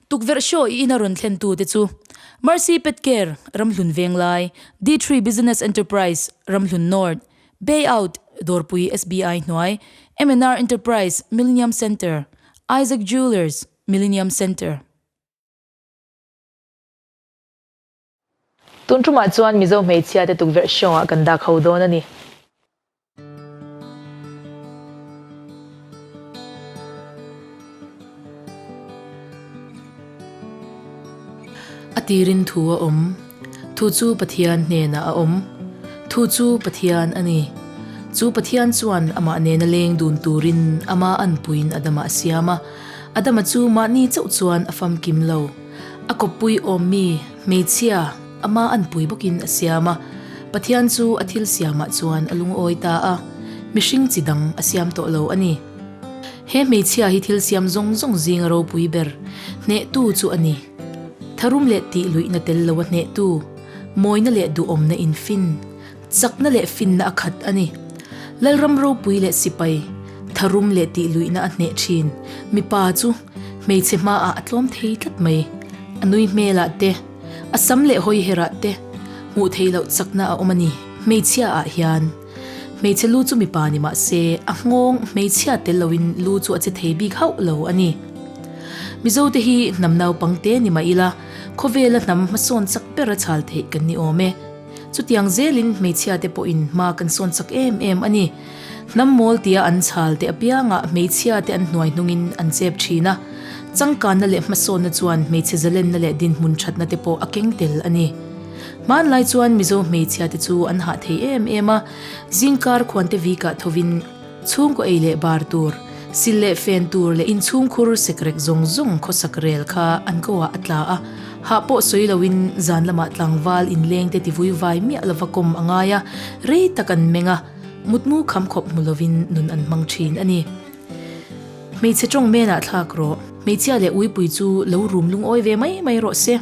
Tukverh show i in a rawn thlen tu te chu Mercy Pet Care, Ramhlun Venglai, D three Business Enterprise, Ramhlun North, Bay Out, Dawrpui SBI hnuai, MNR Enterprise, Millenium Centre, Isaac Jewellers, Millenium Centre, Tun ṭumah chuan Mizo hmeichhia te tukverh hrawngah kan dak ho dawn a ni. A tirin thu a awm. Thu chu Pathian hnenah a awm. Thu chu Pathian a ni. Chu Pathian chuan amah nena leng dun turin ama an puiin Adama a siam a. Adama chu mahni chauh chuan a famkim lo. A kawppui awmmi hmeichhia ama an pui bawkin a siam a, Pathian chu a thil siamah chuan a lungawi ta a, mihring chi dang a siam tawh lo a ni. He hmeichhia hi thil siam zawng zawng zinga ropui ber hnehtu chu a ni. Tharum leh tihluihna tel loa hnehtu, mawina leh duhawmna infin, Chakna leh finna a khat a ni. Lalram ropui leh sipai, tharum leh tihluihna a hneh thin. Mipa chu hmeichhe hmaah a tlawm thei tlat mai. A nui hmelah te, a sam leh hawi herah te hmuh theih loh chakna a awm a ni. Hmeichhia ah hian hmeichhe lu chu mipa ni mah se, a nghawng hmeichhia tel lo in lu chu a che thei bik hauh lo a ni. Mizo te hi hnam naupang te ni mah ila khawvela hnam hmasawn chak ber a chhal theih kan ni awm e. Chutiang zelin hmeichhia te pawhin hma kan sawn chak em em a ni. Hnam mawl tia an chhal te apiangah hmeichhia te an hnuai hnungin an chep thin a. Changkanna leh hmasawnna chuan hmeichhe zalenna leh dinhmun thatna te pawh a keng tel a ni. Hmanlai chuan Mizo hmeichhia te chu an hah thei em em a, zingkar khuante vikah thovin, Chhungkaw ei leh bar tur, sil leh fen tur leh inchhungkhur sekrek zawng zawng khawsak rel kha an ko-ah a tla a, hah pawh sawi loin zan lamah tlangval inlengte tivui vai miah lova kawm a ngai a, rei tak an meng a, mutmu kham khawp hmu lovin nun an hmang thin a ni. Hmeichhe tawng menah thlak rawh. Hmeichhia leh uipui chu lo rum lungawi ve mai mai rawh se.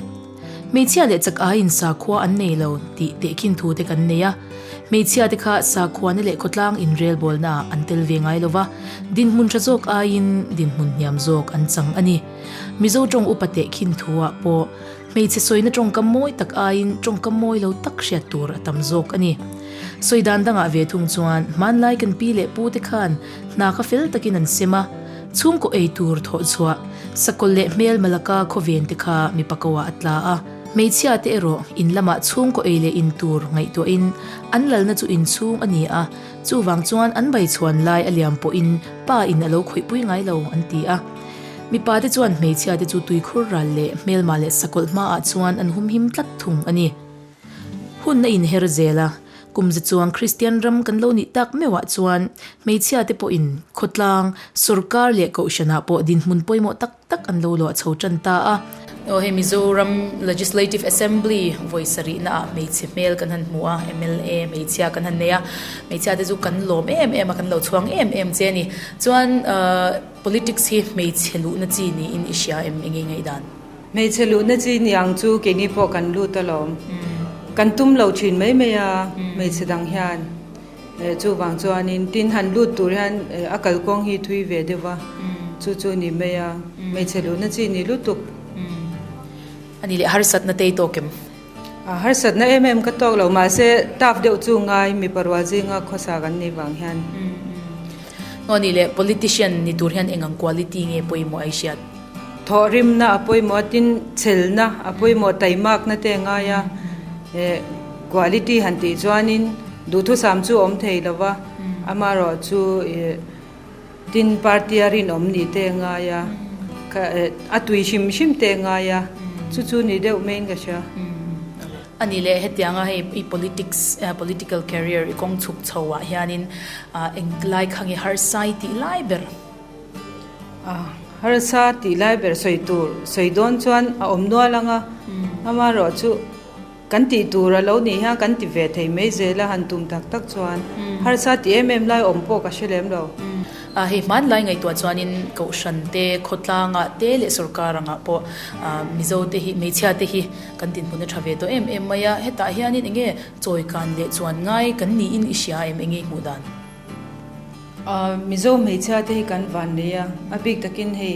Hmeichhia leh chak aiin sakhua an nei lo tih tehkhin thu te kan nei a, hmeichhia te kha sakhua na leh khawtlang inrel bawlna ah an tel ve ngai lo va, dinhmun tha zawk aiin dinhmun hniam zawk an chang a ni. Mizo tawng upa tehkhin thu ah pawh hmeichhe sawina tawngkam mawi tak aiin tawngkam mawi lo tak hriat tur a tam zawk a ni. Sawi dan dangah ve thung chuan hmanlai kan pi leh pu te khan, Hna kha fel takin an sem a, chhung kaw ei tur thawh chhuah. Sakawlh leh hmel Malacca khawven te kha mipa koa a tla a. Hmeichhia te erawh in lamah chhung kaw ei leh in tur ngaihtuah in an lalna chu in chhung a ni a, chuvang chuan an bai chhuan lai a liam pawh in pa in a lo khawih pui ngai lo an ti a. Mipa te chuan hmeichhia te chu tuikhur ral leh hmelma leh sakawlh hma ah chuan an humhim tlat thung a ni. Hun a inher zel a, kum ze chuang Kristian ram kan lo nih tak meuhah chuan hmeichhia te pawhin khawtlang, sawrkar leh kohhranah pawh dinhmun pawimawh tak tak an lo luah chho tan ta a. Aw, hei Mizoram Legislative Assembly vawi sarihna ah hmeichhe hmel kan han hmu a, MLA hmeichhia kan han nei a, hmeichhia te chu kan lawm em em a, kan lo chhuang em em che a ni. Chuan politics hi hmeichhe luhna chi niin i hria em engei ngaih dan? Hmeichhe luhna chi niang chu keini pawh kan lut alawm. Kan tum lo thin mai mai a, hmeichhe dang hian. Eh, chuvang chuanin tin han lut tur hian eh, a kalkawng hi thui ve deuh va, chu chu ni mai a. Hmeichhe luhna chi ni lutuk. Ani leh harsatna tei tawk em? A harsatna em em ka tawk lo, mahse taf deuh chu ngai mipa rual zinga khawsa kan nih vang hian. Ngaw ni le, politician ni tur hian eng ang quality nge pawimawh ai hriat? Thawhrimna a pawimawh tin chelna a pawimawh taimakna te a ngai a, eh quality han tih chuanin duhthusam chu a awm thei lova, amarawh chu eh. Tin party a rinawm ni te ngai a, ka a tui hrim hrim te ngai a, chu chu ni deuh main ka hria. A ni le, hetianga hei i politics, political career i kawng chhuk chho ah hianin eng lai khange harsai tih lai ber? Harsa tih lai ber sawi tur, sawi dawn chuan a awm nual ang a, amaherawhchu. Kan tih tur a lo nih hian kan ti ve thei mai zel a, han tum tak tak chuan harsa ti em em lai awm pawh ka hre lem lo. A hei hmanlai ngaihtuah chuanin Kohhran te, Khawtlanga te leh sawrkar angah pawh Mizo te hi, hmeichhia te hi kan dinhmun a tha ve tawh em em mai a, hetah hianin eng nge chawi kan leh chuan ngai kan niin i hria em eng nge i hmuh dan? Mizo hmeichhia te hi kan van lei a, a bik takin hei.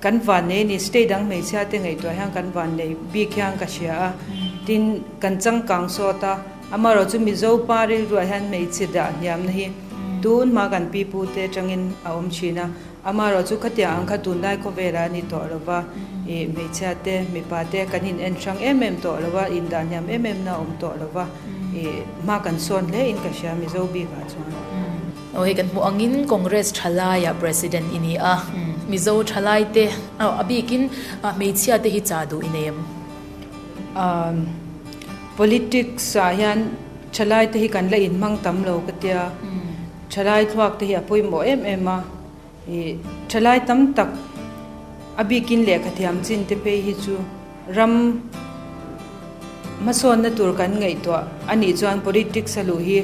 Kan vannei ni state dang hmeichhia te ngaihtuah hian kan vannei bik hian ka hria a, tin kan changkang sawt a, amarawh chu Mizo pa rilruah hian hmeichhe dah hniamna hi tunhma kan pi pu te atangin a awm thin a, amarawh chu khatiang ang kha tunlai khawvela a ni tawh lo va, ih hmeichhia te mipa te kan in en hrang em em tawh lo va, in dah hniam em em na a awm tawh lo va, ih hma kan sawn hle in ka hria Mizo bik ah chuan. Aw hei kan hmuh angin Congress tha laia President i ni a, Mizo tha lai te aw a bikin hmeichhia te hi chah duh i nei em? Umm politics ah hian tha lai te hi kan la in hmang tam lo ka tia, tha lai thluak te hi a pawimawh em em a, i tha lai tam tak a bikin lehkha thiam chin te phei hi chu ram hmasawnna tur kan ngaihtuah a nih chuan politics a luh hi,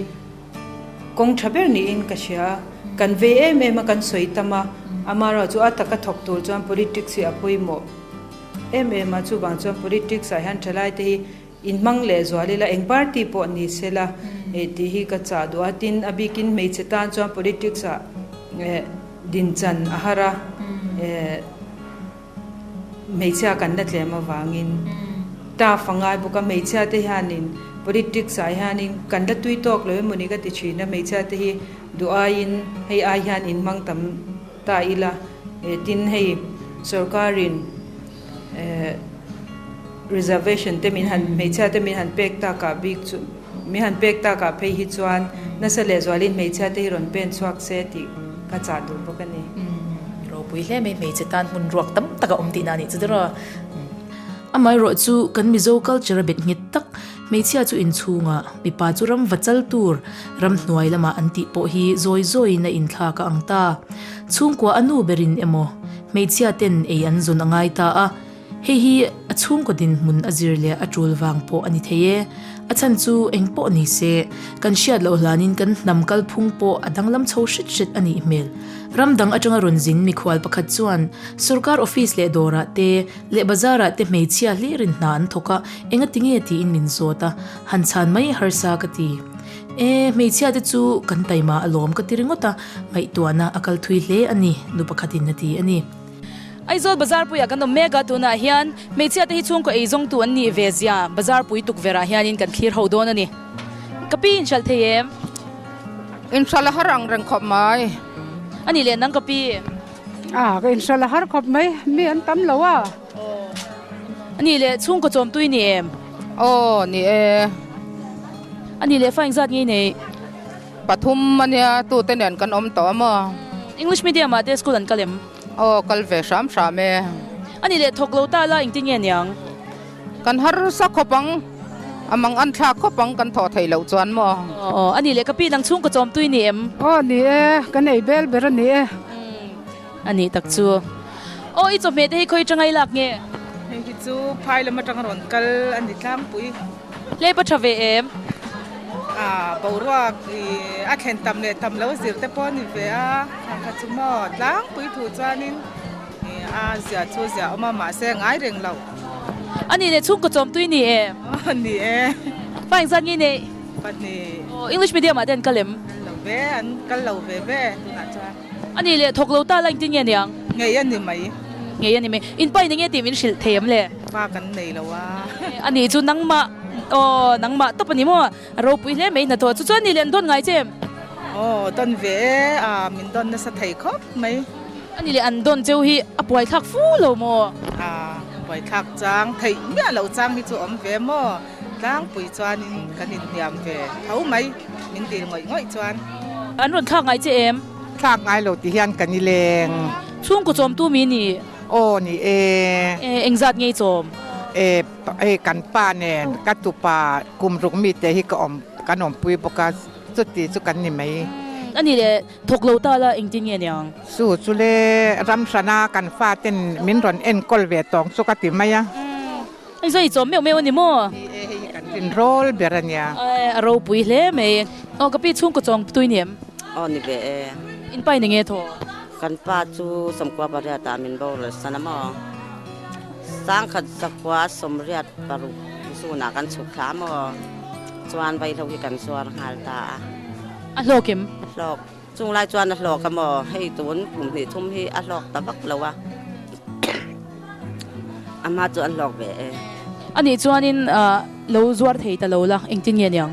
Kawng tha ber niin ka hria a, kan vei em em a kan sawi tam a, amaherawh chu a taka thawk tur chuan politics hi a pawimawh em em a, chuvang chuan politics ah hian thalai te hi inhmang leh zual ila eng party pawh ni se la eh tih hi ka chah duh a, tin a bikin hmeichhe tan chuan politics ah eh din chan a har a eh. hmeichhia kan la tlem avangin Taff a ngai bawk a, hmeichhia te hianin politics ah hianin kan la tui tawk lo emaw ni ka ti thin a, hmeichhia te hi duhaiin hei ai hian in hmang tam ta ila eh tin hei sorkarin eh reservation te min han hmeichhia te min han pek takah bik chu. Mi han pek takah phei hi chuan nasa leh zualin hmeichhia te hi rawn pen chhuak se tih ka chah duh bawk a ni. Umm, ropui hle mai hmeichhe tan hmun ruak tam taka awm tihna a nih chu dawr a, umm. Amah erawh chu kan Mizo culture a bet nghet tak. Hmeichhia chu inchhunga, mipa chu ram va chal tur, ram hnuai lama an tih pawh hi zawi zawiin a inthlak a ang ta. Chhungkua a nu berin emaw, hmeichhia ten ei an zawn a ngai ta a. Hei hi a chhungkawtin hmun a zir leh a tul vang pawh a ni thei e. A chhan chu eng pawh ni se, kan hriat loh hlanin kan hnam kalphung pawh a danglam chho hret hret a nih hmel. Ram dang atanga rawn zin mikhual pakhat chuan sorkar office leh dawrah te leh bazarah te hmeichhia hlirin hna an thawk a, enga ti nge tiin min zawt a, han chhan mai harsa ka ti. E, hmeichhia te chu kan taima a lawm ka ti ringawt a, ngaihtuahna a kal thui hle a ni, nu pakhatin a ti a ni. Aizawl bazarpuiah kan awm mek a, tunah hian hmeichhia te hi chhungkaw ei zawngtu an nih ve zia bazarpui tukverhah hianin kan thlir ho dawn a ni. Ka pi in hralh thei em? In hralh a har ang reng khawp mai. A nih leh nang ka pi. Ah, ka in hralh a har khawp mai, mi an tam lo a. Aw. A nih leh chhungkaw chawmtui ni em? Aw, ni e. A nih leh fa engzat ngei nei? Pathum ania tute nen kan awm tawh a maw. English medium ah te school an kal em? Aw kal ve hram hram e. Ani leh thawk lo ta la engti nge niang. Kan harsa khawp ang a mang an thlak khawp ang kan thaw thei loh chuan maw. Aw ani leh ka pi nang chhungkaw chawmtu i ni em? Aw ni e ka nei bel ber ani e. Ani tak chu. Aw i chawhmeh te hi khawi tangai lak nge? Hei hi chu phai lam atang rawn kal ani tlangpui. Hlei pawh tha ve em? Aaa, boruak i a thlen tam leh tam lo zir te pawh a ni ve a, a kha chu maw? Tlangpui thu chuanin i a ziah chu ziah awm a, mahse ngai reng lo. A ni leh chhungkaw chawmtui ni e? Aw, ni e. Pa engzat nge nei? Pahnih. Aw, English medium-ah te an kal em? Kal lo ve, an kal lo ve ve tunah chuan. A nih leh, thawk lo ta la in ti nge ni ang? Ngei a ni mai. Ngei a ni mai. In pai ni nge tih min hrilh thei ang le? Pa kan nei lo a. A nih chu nangmah, aw, nangmah tawp a ni maw? A ropui hle mai hna tawh. Chu chu a nih leh, an dawn ngai che em? Aw, dawn ve e, aah, min dawn nasa thei khawp mai. A nih leh, an dawn cheu hi a puai thlak fu lo maw? Aah, puai thlak chang, theih miah loh chang hi chu awm ve maw? Tlangpui chuanin kan inhniam ve tho mai, min dil ngawih ngawih chuan. An rawn thlak ngai che em? Thlak ngai lo tih hian kan i leng. Chhungkaw chawmtu mi nih? Aw ni e. E, engzat ngei chawm? E, hei kan pa nen ka tupa kum ruk mite hi ka awm, kan awmpui bawk a, chuti chu kan ni mai. A ni le, thawk lo ta la, engtin nge niang? Chu chu le, ramhrana kan fate nen min rawn enkawl ve tawng chu ka ti mai a. I zui chawm meuh meuh a ni maw? Ni e, hei hi kan rin rawl ber a nia. Aih, a ropui hle mai e. Aw, ka pi chhungkaw chawng tui ni em? Aw, ni ve e. In pai ni nge thaw? Kan pa chu sawmkua pariat ah min boral san a maw? Sangkhat zakua sawmriat paruk zun ah kan chhuk thla a maw? Chuan vaihlo hi kan zuar nghal ta a. A hlawk em? Hlawk. Chung lai chuan a hlawk a maw? Hei tun kum hnih thum hi a hlawk ta vak lo a, a hma chu an hlawk ve e. A nih chuanin lo zuar thei ta lo la, engtin nge niang?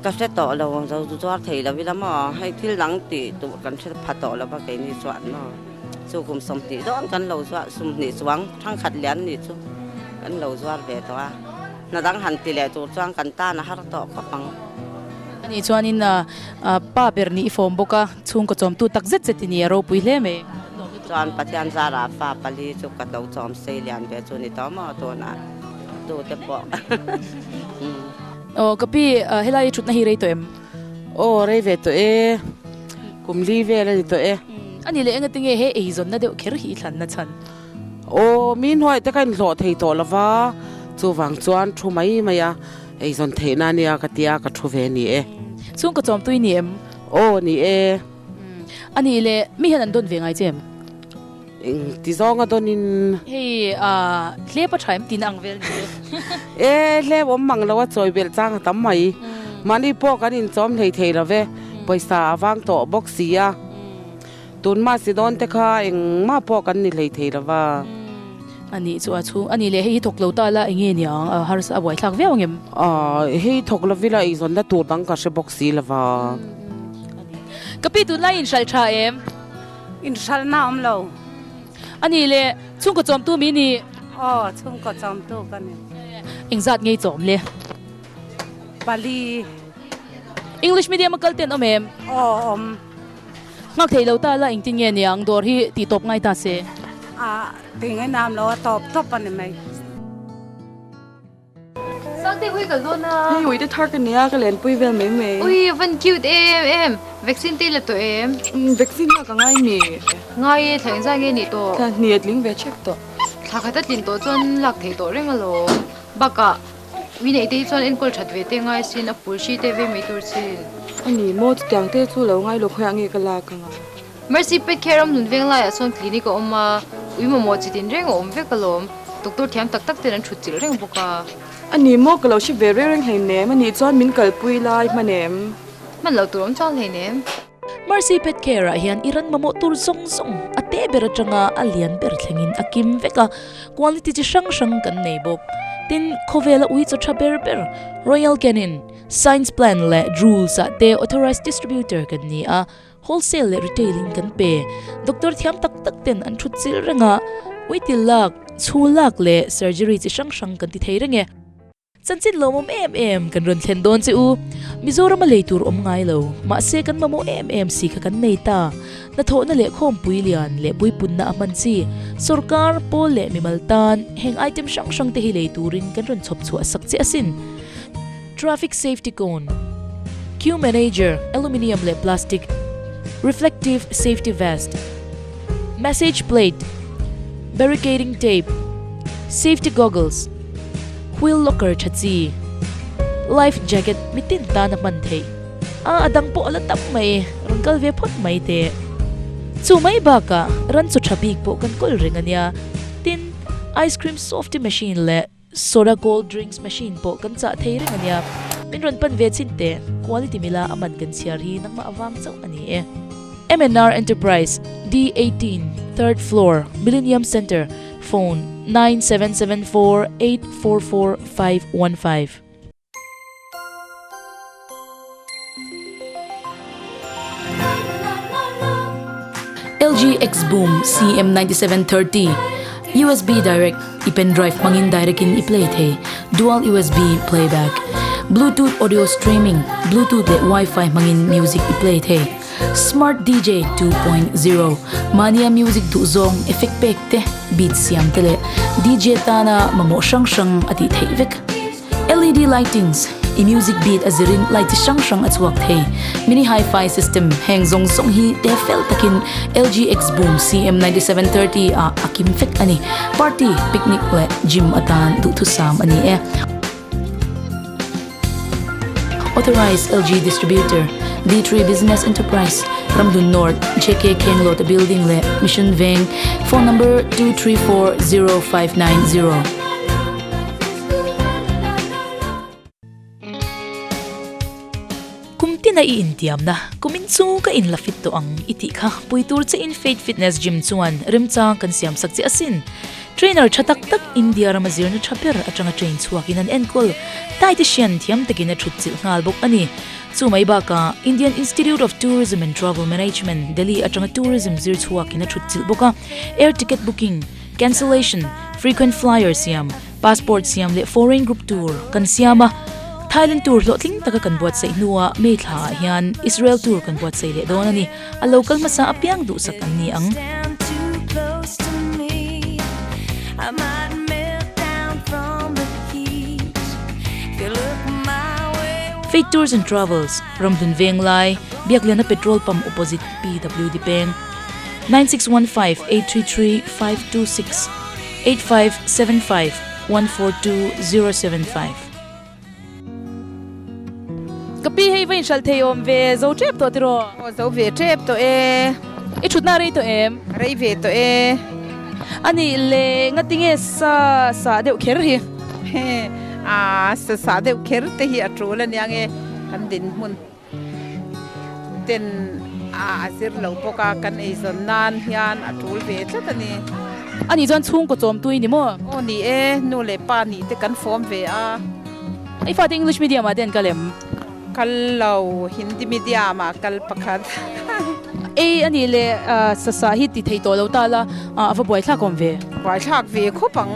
Ka hre tawh lo, lo zuar thei lo ila maw? Hei thil dang ti tur kan hre pha tawh lo va keini chuan maw? Chu kum sawmhnih dawn kan lo zuar, sawmhnih chuang thangkhat lian ni chu kan lo zuar ve tawh a. Hna dang han ti leh tur chuan kan tan a har tawh khawp ang. A nih chuanin Pa ber nih i fawm bawk a, chhungkaw chawmtu tak zet zet i nih a ropui hle mai. Chuan Pathian zara fa pali chu ka tlo chawm sei lian ve chu ni tawh maw tunah tu te pawh umm. Aw ka pi, helai i thutna hi rei tawh em? Aw rei ve tawh e, kum li vel a ni tawh e. A ni leh engatinge he eizawnna deuh kher hi i thlanna chhan? Aw, mi hnuai te ka inhlawh thei tawh lo va, chuvang chuan thu mai mai a, eizawn theihna ania ka tia ka thu ve ni e. Chhung ka chawm tui ni em? Aw ni e. A nih le, mi hian an dawn ve ngai che em? Eng ti zawnga dawn in. Hei ahh, hlep a tha em tina ang vel ni e. E, hlep awm mang lo a chawi belh chang a tam mai. Mahni pawh kan inchawm hlei thei lo ve, pawisa a vang tawh bawk sia. Tun mahse dawn te kha engmah pawh kan ni hlei thei lo va. A nih chu a chhung a nih leh hei hi thawk lo ta la enge nia ang a harsa a buai thlak viau ang em? Aw hei thawk lo vila eizawn na tur dang ka hre bawk si lo va. A nih. Ka pi tun lai in hralh tha em? In hralh na awm lo. A nih leh chhungkaw chawmtu mi nih? Aw chhungkaw chawmtu ka ni. Eng zat ngei chawm le? Pali. English medium a kal ten awm em? Aw awm. Nghak thei lo ta la engtin nge nia ang dawr hi tih tawp ngai ta se. Ah tih nge nam lo a tawp tawp a ni mai. Sangte hui ka zawn a. Hei uite thar ka nia ka lenpui vel mai mai. Ui van cute em em. Vaccine te la tawh em. Umm vaccine lak ka ngai nih. Ngai e thleng zai nge nih tawh. Thla hniat ling ve chek tawh. Thla kha ta tlin tawh chuan lak thei tawh reng alawm baka. Ui neih te hi chuan enkawl that ve te ngai sin a pul hri te ve mai tur chin. A ni maw? Chutiang te chu lo ngai lawk haiah nge ka lak ang a? Mercy pet kher awm nun veng laiah chuan clinic a awm a, Ui mamawh chit in reng a awm vek alawm. Doctor thiam tak tak ten an thut chilh reng bawk a. A ni maw? Ka lo hre ve reng reng hleinem. A nih chuan min kalpui lai hman em? Hman lo tur awm chang hleinem. Mercy Pet Care ah hian i ran mamawh tur zawng zawng a teh ber atanga a lian ber thlengin a kim vek a, quality chi hrang hrang kan nei bawk. Tin, khawvel a ui chaw tha ber ber. Royal Canin, Science Plan leh Drools ah te authorised distributor kan ni a, wholesale leh retail in kan pe. Doctor thiam tak tak ten an thut chilh reng a, uitil lak, chhul lak leh surgery chi hrang hrang kan ti thei reng e. Chanchin lo mawm em em kan rawn thlen dawn che u. Mizoram a lei tur awm ngai lo. Mahse kan mamawh em em si kha kan nei ta. Hnathawhna leh khawmpui lian leh puipunna a hman chi. Sorkar, Pawl leh mimal tan heng item hrang hrang te hi lei turin kan rawn chhawp chhuah sak che asin. Traffic safety cone, Queue manager, aluminium leh plastic, reflective safety vest, Message plate, barricading tape, safety goggles, wheel locker tha chi, life jacket mi tin tana hman theih. A a dang pawh a la tam mai, ran kal ve phawt mai teh. Chu mai bakah ran chu tha bik pawh kan kawl reng a nia, tin ice cream softy machine leh Soda cold drinks machine pawh kan chah thei reng ania. Min rawn pan ve chin teh. Quality mila a man kan chhiar hi nangmah avang chauh ani e. MNR Enterprise, D eighteen, third floor, Millennium Centre, phone, nine seven seven four eight four four five one five. LG Xboom CM97 30 USB direct i pen drive hmangin direct in i play thei dual USB playback bluetooth audio streaming bluetooth leh wifi hmangin music i play thei smart dj 2.0 mania music du zong effect pack te beat siam te leh dj tana mamawh hrang hrang a tih theih vek LED lightings i music beat a zir in light chi hrang hrang a chhuak thei. Mini Hi-Fi system heng zawng zawng hi te fel tak in LG X Boom CM ninety seven thirty ah a kim fek a ni. Party, picnic leh gym atan duh thu sam a ni e. Authorised LG Distributor, D three Business Enterprise, Ramhlun North, JK Khenglawta Building leh Mission Veng, Phone number two three four zero five nine zero. Kum tina i intiamna, kumin chu ka in la fit tawh ang i tih kha. Pui tur che in Fate Fitness Gym chuan remchang kan siamsak che asin. Trainer tha tak tak India rama zirna tha ber atanga train chhuakin an enkawl. Thai te hrian thiam takin a thutchilh nghal bawk a ni. Chu mai bakah Indian Institute of Tourism and Travel Management, Delhi atanga tourism zir chhuakin a thutchilh bawk a. Air ticket booking. Cancellation, Frequent flyer siam, Passport siam leh Foreign group tur kan siam a, Thailand tur hlawhtling taka kan buatsaih hnua May thla ah hian Israel tur kan buatsaih leh dawn a ni. A lo kal hmasa apiang duhsak an ni ang. Fake tours and travels, Ramhlun venglai, Biakliana petrol pump opposite PWD peng. nine six one five eight three three five two six eight five seven five one four two zero seven five. Ka pi hei va inhralh thei awm ve, zo tep tawh tiraw? Aw zo ve tep tawh e. I thutna a rei tawh em? A rei ve tawh e. A nih leh, ngati nge sa sah deuh kher hi? He, aa sa sah deuh kher te hi a tul a nia nge, kan dinhmun. Tuten ah a zir lo bawk a, kan ei zawn nan hian a tul ve tlat a ni. Ani chuan chhungkaw chawmtu i ni maw? Aw ni e, nu leh pa nih te kan fawm ve a. I fate English medium ah ten ka lem. Kal lo, Hindi medium ah kal pakhat. Ei anih le, Sasa hi ti thei tawh lo ta la, a va buaithlak awm ve. Buaithlak ve khawp ang.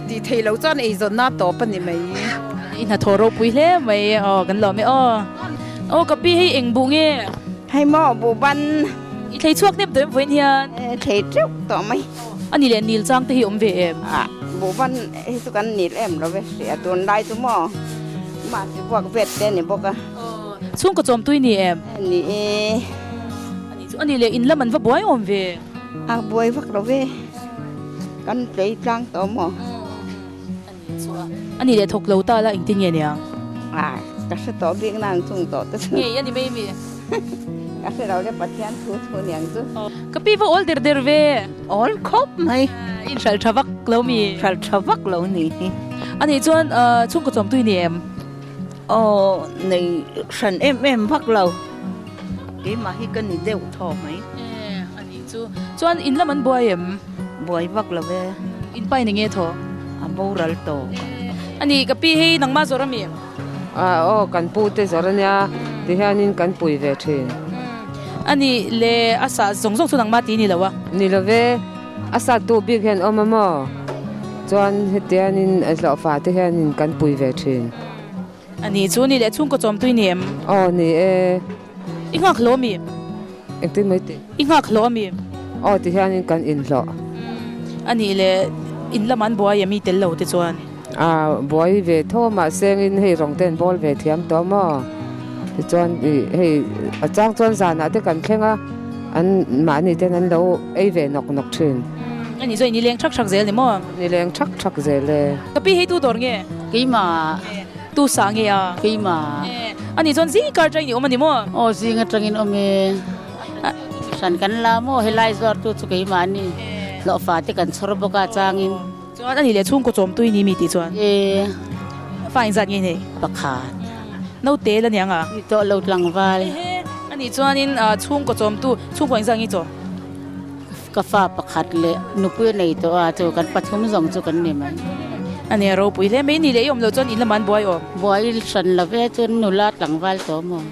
Tih theih lo chuan eizawnna tawp a ni mai. I hnathawh ropui hle mai e. Aw kan lawm e aw. Aw ka pi hei eng buh nge. Hei maw buh ban. I thlei chhuak nep tawh em vawiin hian. I thlei teuh tawh mai. A ni leh nil chang te hi awm ve em. A buh ban hi chu kan nil em lo ve hriat tun lai chu maw. Mahse buak vet te a ni bawk a. Aw chhungkaw chawmtui ni em. A ni e. A ni chu a ni leh in lam an va buai awm ve. A buai vak lo ve. Kan tlei tlang tawh maw? Ani leh thawk lo ta la engtin nge nia? Ai, ka hre tawh bik na an chung tawh te chu. Ngei a ni mai mi. Ka hre lo le Pathian thu thu niang chu. Ka pi va awl der der ve. Awl khawp mai. I inhralh tha vak lo mi. Hralh tha vak lo ni hi. Ani chuan chhungkaw chawmtui ni em? Aw, nei hran em em vak lo. Keimah hi ka ni deuh thaw mai. Tih chu. Chuan in lam an buai em? Buai vak lo e. In pai ni nge thaw? A boral tawh. A ni, ka pi hi nangma zawrh a mi? Ah aw, kan pu te zawrh a nia, ti hianin kan pui ve thin. A ni le, a sah zawng zawng chu nangma ti ni lo a? Ni lo e, a sattu bik hian awm a maw? Chuan hetianin a hlawhfate hianin kan pui ve thin. A nih chu, nih leh chhungkaw chawmtui ni em? Aw, ni e. I nghak hlawh a mi em? Engtin mai tih? I nghak hlawh a mi em? Aw ti hianin kan inhlawh. A nih le, in lamah an buai a mi tel lo te chuan. A buai ve tho mah sengin hei rawng ten bawl ve thiam tawh maw? Ti chuan i hei a chang chuan zanah te kan thleng a, an mahni ten an lo ei ve nawk nawk thin. A nih chu, i ni leng thak thak zel ni maw? Ni leng thak thak zel e. Ka pi hei tu dawr nge? Keimah tu sah nge a. Keimah e. Ani chuan zing i kar ṭang in i awm a ni maw? Aw zing a ṭang in awm e. Hran kan la maw helai zuartu chu keimah ni hlawhfa te kan chhawr bawk a chang in. Chuan a nih leh chhungkaw chawmtu i ni mi tih chuan. E. Fa in zat nge i nei? Pakhat. Naute la niang a? Ni tawh lo tlangval. Ehe. Ani chuan in chhungkaw chawmtu chhungkaw in zat nge i chaw? Ka fa pakhat leh nupui a nei tawh a, chu kan pathum zawng chu kan ni mai. A nia, ropui hle mai ni leh i awm lo chuan in lamah an buai aw. Buai in hran lo e, chuan nula tlangval tawh maw?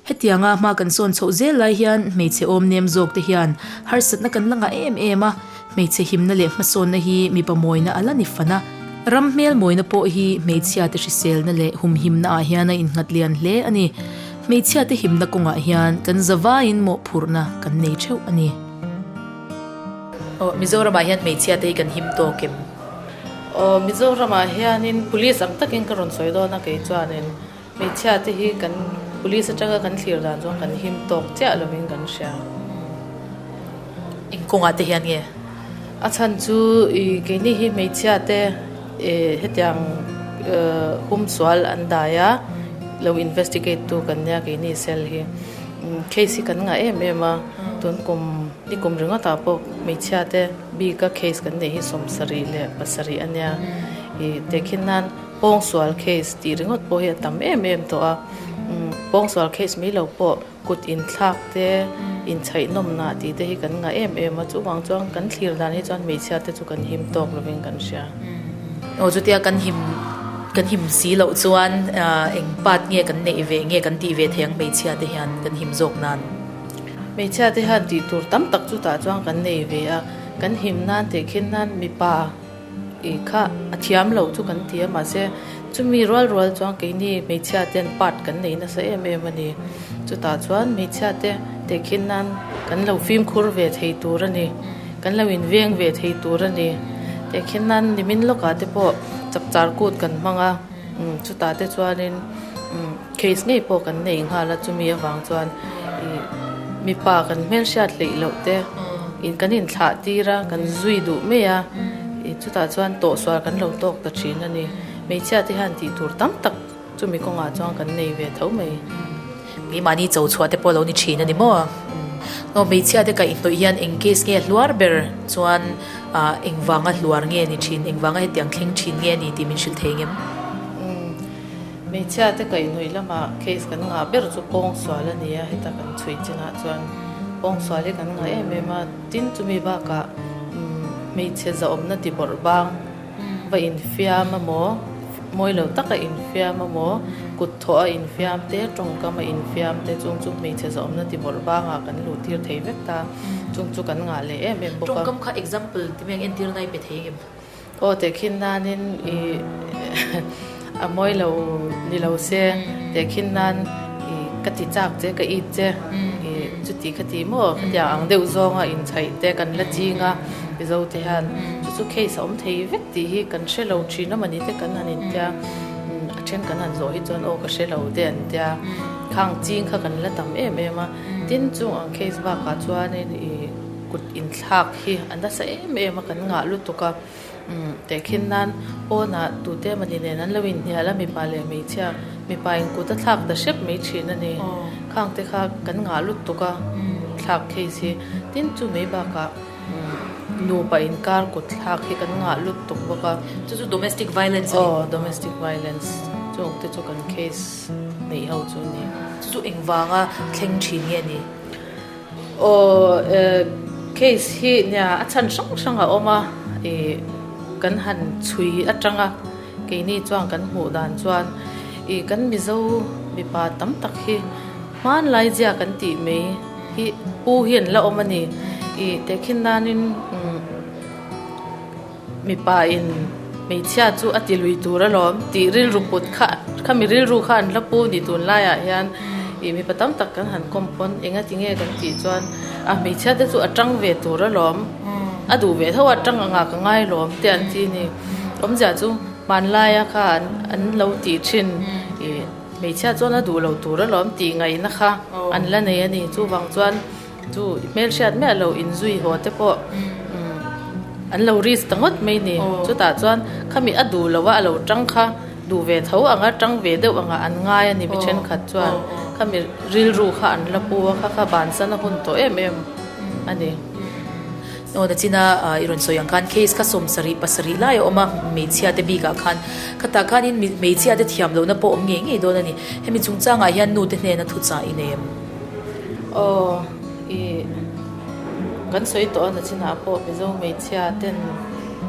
Hetianga hma kan sawn chhoh zel lai hian hmeichhe awm nem zawk te hian harsatna kan la ngah em em a, hmeichhe himna leh hmasawnna hi mipa mawina a la ni fan a, ram hmel mawina pawh hi hmeichhiate hriselna leh humhimna ah hian a in nghat lian hle a ni. Hmeichhia te himna kawngah hian kan zavaiin mawhphurhna kan nei theuh a ni. Aw, Mizoramah hian hmeichhia te hi kan him tawk em? Aw, Mizoramah hianin police ang takin ka rawn sawi dawn a, kei chuanin hmeichhia te hi kan police atanga kan thlir dan chuan kan him tawk chiah lovin kan hria. Eng kawngah te hian nge? A chhan chu, i, keini hi hmeichhia te Hetiang hum sual an dai a, lo investigate tu kan nia keini cell hi. Case hi kan ngah em em a, tun kum ni kum ringawtah pawh hmeichhia te bika case kan neih hi sawmsarih leh pasarih a nia. I te khin nan pawngsual case tih ringawt pawh hi a tam em em tawh a, pawngsual case mai lo pawh. Kut inthlak te, inchhaihnawmna tih te hi kan ngah em em a, chuvang chuan kan thlir dan hi chuan hmeichhia te chu kan him tawk lovin kan hria. Aw chutia kan him, kan him si loh chuan eng part nge kan neih ve, nge kan tih ve thei ang hmeichhia te hian kan him zawk nan? Hmeichhia te hian tih tur tam tak chutah chuan kan nei ve a, kan him nan teh khin nan mipa, I kha a thiam lo chu kan ti a mahse chumi rual rual chuan keini hmeichhia ten part kan nei nasa em em a ni chutah chuan hmeichhia te tehkhin nan kan lo fimkhur ve thei tur a ni kan lo in veng ve thei tur a ni tehkhin nan nimin lawkah te pawh chakchar kut kan hmang a chutah te chuan in. Case ngei pawh kan nei nghal a chumi avang chuan mipa kan hmelhriat hleih loh te in kan in thlah tir a kan zui duh mai a i chutah chuan tawhsual kan lo tawk ta thin a ni hmeichhia te hian tih tur tam tak chumi kawngah chuan kan nei ve tho mai mi mahni cho chhuah te pawh lo ni thin a ni maw aw hmeichhia te kaih hnawih hian eng case nge a hluar ber chuan ah eng vanga hluar nge ni thin eng vanga hetiang thleng thin nge ni tih min hrilh thei ngem umm. Hmeichhia te kaih nuih lamah case kan ngah ber chu pawng sual a nia, heta kan chhui chinah chuan pawng sual hi kan ngah em em a, tin chumi bakah hmeichhe zahawmna tibawrh bang va infiam a maw, mawi lo taka infiam a maw, kut thawh a infiam te, tawngkam a infiam te chung chu hmeichhe zahawmna tibawrh bangah kan luh tir thei vek ta, chung chu kan ngah leh em em bawk a. Tawngkam kha example ti mai ang, entirna hi pe thei ang em? Aw tehkhin nanin ih a mawi lo ni lo se, tehkhin nan ka ti chak che ka it che ih chutih kha ti maw khatiang ang deuh zawnga inchhaih te kan la ching a mizo te hian chu chu case a awm thei vek tih hi kan hre lo thin a mani te kan han intia a then kan han zawh hi chuan aw ka hre lo te an tia khang ching kha kan la tam em em a tin chung ang case bakah chuanin ih. Kut inthlak hi a nasa em em a kan ngah lutuk a, tehkhin nan Auna tute mani nen an lo inhnial a mipa leh hmeichhia, mipa in kut a thlak ta hrep mai thin a ni, khang te kha kan ngah lutuk a thlak case hi, tin chu mai bakah nupa inkar kut thlak hi kan ngah lutuk bawk a. Chu chu domestic violence a ni? Aw domestic violence chu awk te chu kan case neih ho chu a ni. Chu chu engvanga thleng thin nge a ni? Aw eh, case hi nia a chhan hrang hrang a awm a, ih kan han chhui atang a, keini chuan kan hmuh dan chuan ih kan Mizo mipa tam tak hi hmanlai zia kan tih mai hi pu hian la awm a ni, ih tehkhin nanin umm. Mipa in hmeichhia chu a ti lui tur alawm tih rilru kut kha khami rilru kha an hla pu ni tun laiah hian ih mipa tam tak kan han kawm pawn eng ati nge kan tih chuan a hmeichhia te chu a tang ve tur alawm a duh ve tho a tang ang ah ka ngailawm tih an ti a ni awmzia chu hmanlaia kha an lo tih thin ih hmeichhia chuan a duh lo tur alawm tih ngaihna kha an la nei a ni chuvang chuan. Chu i hmelhriat miah lo inzui haw te pawh an lo risk ta ngawt mai ni. Chutah chuan khami a duh loh a, a lo ṭang kha, duh ve tho ang a, ṭang ve deuh ang a an ngai a ni mi ṭhenkhat chuan. Khami rilru kha an la pu a, kha kha bansana hun tawh em em a ni. Aw Nachina i rawn sawi ang khan case kha sawm sarih pasarih lai a awm a hmeichhia te bik ah khan. Kha tah khanin hmeichhia te thiam lohna pawh awm ngei ngei dawn a ni. Hemi chungchang ah hian nu te hnena thuchah i nem. Aw i kan sawi tawh a na chinah pawh Mizo hmeichhia ten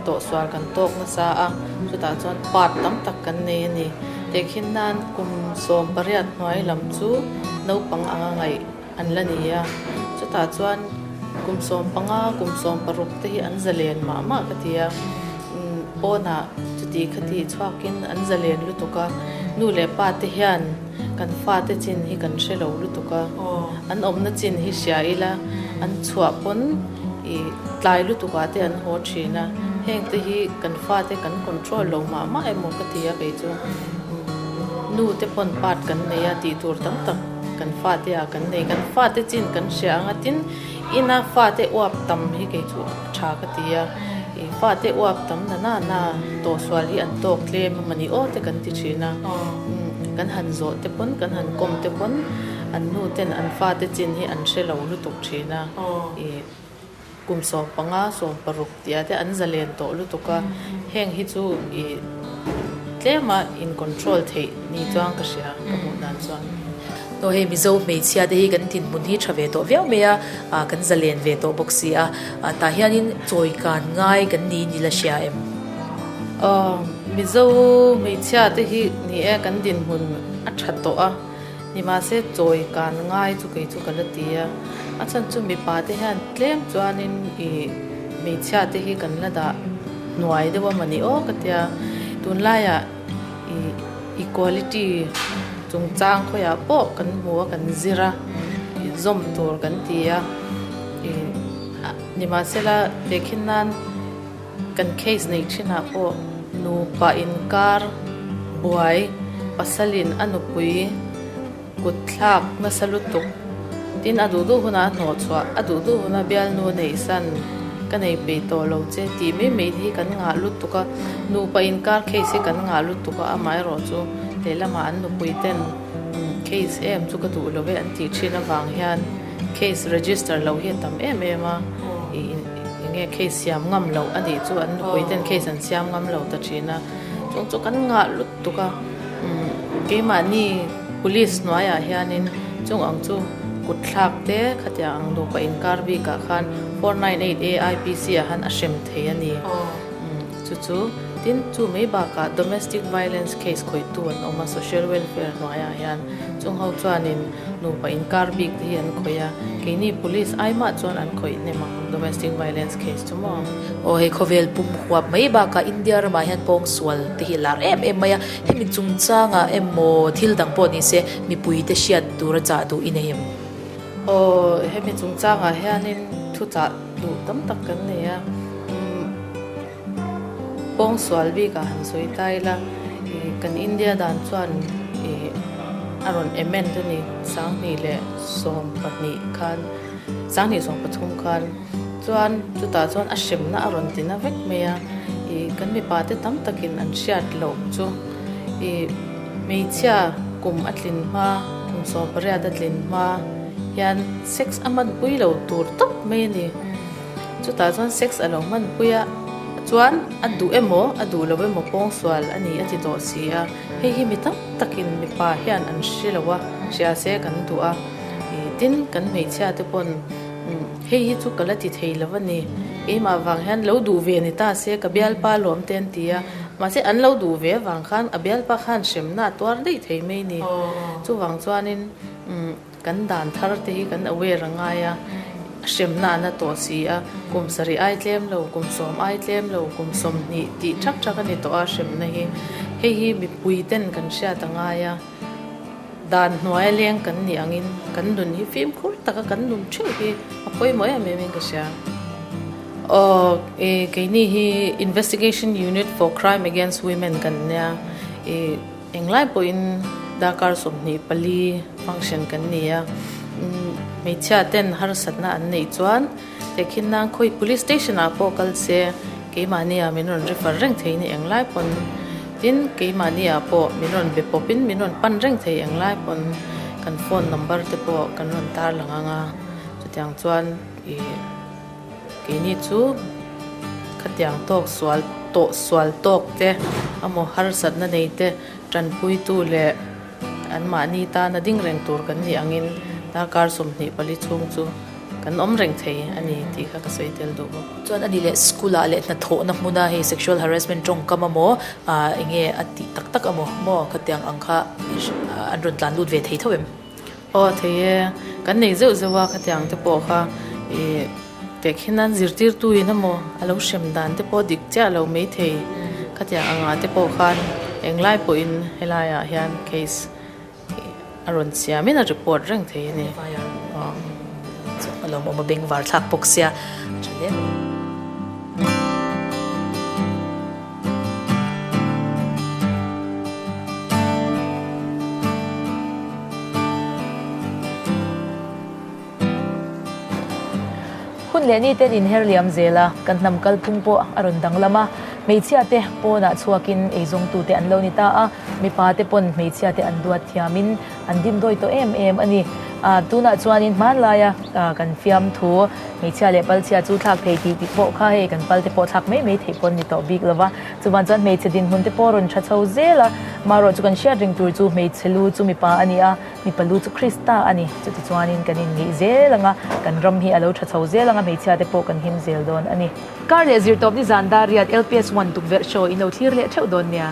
tawhsual kan tawk nasa a, chutah chuan part tam tak kan nei a ni. Tehkhin nan kum sawm pariat hnuai lam chu naupang anga ngaih an la ni a, chutah chuan kum sawm panga kum sawm paruk te hi an zalen mah mah ka ti a. Pawnah chutih kha tih chhuakin an zalen lutuk a, nu leh pa te hian kan fate chin hi kan hre lo lutuk a, an awmna chin hi hria ila an chhuah pawn i tlai lutuk ah te an haw thin a, heng te hi kan fate kan control lo mah mah emaw ka ti a kei chu, nu te pawn part kan nei a tih tur tam tak kan fate ah kan nei, kan fate chin kan hria ang a tin ina fate uap tam hi kei chu. Tha ka ti a, i fate uap tam na na na tawhsual hi an tawk tlem a mani aw te kan ti thin a, kan han zawh te pawn kan han kawm te pawn an nu ten an fate chin hi an hre lo lutuk thin a, i kum sawm panga sawm paruk tih ah te an za len tawh lutuk a, heng hi chu i tlem a in control theih ni chuang ka hria ka hmuh dan chuan. Aw hei Mizo hmeichhia te hi kan tin hmun hi tha ve tawh viau mai a, ah kan za len ve tawh bawk si a, ah tah hianin chawi kan ngai kan ni ni la hria em? Aw Mizo hmeichhia te hi ni e kan din hmun a tha tawh a, ni mahse chawi kan ngai chu kei chu ka la ti a, a chhan chu mipa te hian tlem chuanin i hmeichhia te hi kan la dah hnuai deuh a mah ni aw ka tia, tunlaiah. Equality chungchang khawiah pawh kan hmu a, kan zir a, zawm tur kan ti a. Nimahsela vekhin nan kan case nei thinah pawh nupa inkar buai pasalin a nupui. Kut thlak nasa lutuk tin a duh duh hunah a hnawh chhuah. A duh duh huna bialnu nei san ka nei pei tawh lo che tih mai mai hi kan ngah lutuk a, nupa inkar case hi kan ngah lutuk a, amah erawh chu lehlamah an nupui ten case em chu ka duh lo e an tih thin avang hian case register lo hi a tam em em a, enge case siam ngam loh a nih chu an nupui ten case an siam ngam lo ta thin a, chung chu kan ngah lutuk. tuk a, keimahni police hnuaiah hianin chung ang chu kutthlak te khatiang ang duh pawh inkar bikah khan four nine eight A IPC ah han a hrem thei a ni. Chu chu tin chu mai bakah domestic violence case khawihtu an awm a, social welfare hnuaiah hian chung ho chuanin nupa inkar bik te hi an khawih a, keini police ai mah chuan an khawih hnem ang. Domestic violence case chu maw? Aw hei khawvel pum huap mai bakah India ramah hian pawng sual te hi a lar em em mai a, hemi chungchanga emaw thil dang pawh ni se mipui te hriat tur a chah duh i nei em? Aw hemi chungchangah hianin thu chah duh tam tak kan nei a, pawng sual bikah han sawi ta ila kan India dan chuan a rawn amend a ni, sanghnih leh sawm pahnih khan. Sanghnih sawng pathum khan chuan chutah chuan a hremna a rawn ti na vek mai a, i kan mipa te tam takin an hriat loh chu i hmeichhia kum a tlin hma kum sawm pariat a tlin hma hian sex a hman pui lo tur tawp mai a ni. Chutah chuan sex a lo hman pui a chuan a duh emaw a duh lo emaw pawng sual a ni a ti tawh si a, hei hi mi tam takin mipa hian an hre lo a hria se kan duh a. Tin, kan hmeichhia te pawn hei hi chu ka la ti thei lo a ni. Keimah vang hian lo duh ve ni ta se, ka bialpa lawm te an ti a. Mahse, an lo duh ve vang khan a bialpa khan hremna a tuar daih thei mai ni. Chuvang chuanin kan dan thar te hi kan aware a ngai a, hremna an la tawh si a. Kum sarih ai tlem lo, kum sawm ai tlem lo, kum sawmhnih tih ṭhak ṭhak a ni tawh a hremna hi. Hei hi mipui ten kan hriat a ngai a. Dan hnuaia leng kan nih angin kan nun hi fimkhur taka kan nun theuh hi a pawimawh em emin ka hria. Awk, i keini hi Investigation Unit for Crime Against Women kan nia, i englai pawhin darkar sawmhnih pali function kan nia. Hmeichhiaten harsatna an neih chuan He khin nan khawi police station ah pawh kal se keimahni ah min rawn ri far reng thei ni eng lai pawn tin keimahni ah pawh min rawn be pawp in min rawn pan reng thei eng lai pawn kan phone number te pawh kan rawn tar lang ang a chutiang chuan ih keini chu khatiang tawk sual tawh sual tawk te a maw harsat na nei te tanpui tu leh an mahni tana ding reng tur kan nih ang in darkar sawmhnih pali chhung chu-- Kan awm reng thei a ni tih kha ka sawi tel duh bawk. Chuan ani leh school ah leh hnathawhna hmuna hei sexual harassment tawngkam a maw ah enge a tih tak tak a maw maw ka tiang ang kha an rawn tlan lut ve thei tho em? Aw thei e, kan nei zeuh zeuh a ka tiang te pawh kha i pekhin an zirtirtu in a maw a lo hrem dan te pawh dik chiah lo mai thei ka tiang ang ah te pawh khan eng lai pawh in helai ah hian case a rawn siam in a report reng thei a ni alo awm a bank var thlak bawk sia tha hle a. Hun leh ni ten inher liam zel a, kan hnam kal phung pawh a rawn danglam a. Hmeichhia te pawnah chhuakin ei zawngtu te an lo ni ta a, mipa te pawn hmeichhia te an duat thiamin an dindawi tawh em em a ni. Ahh tunah chuanin hmanlaia kan fiam thu hmeichhia leh palchhia chu thlak thei tih tih pawh kha hei kan pal te pawh thlak mai mai theih pawh a ni tawh bik lo va. Chuvan chuan hmeichhe dinhmun te pawh a rawn tha chho zel a, marawh chu kan hriat reng tur chu hmeichhe lu chu mipa a ni a, Mipa lu chu Krista a ni. Chutichuanin kan inneih zel anga kan ram hi a lo tha chho zel anga hmeichhia te pawh kan him zel dawn a ni. Kar leh zir tawp ni zan dar riat LPS one tukverh show in lo thlir leh theuh dawn nia.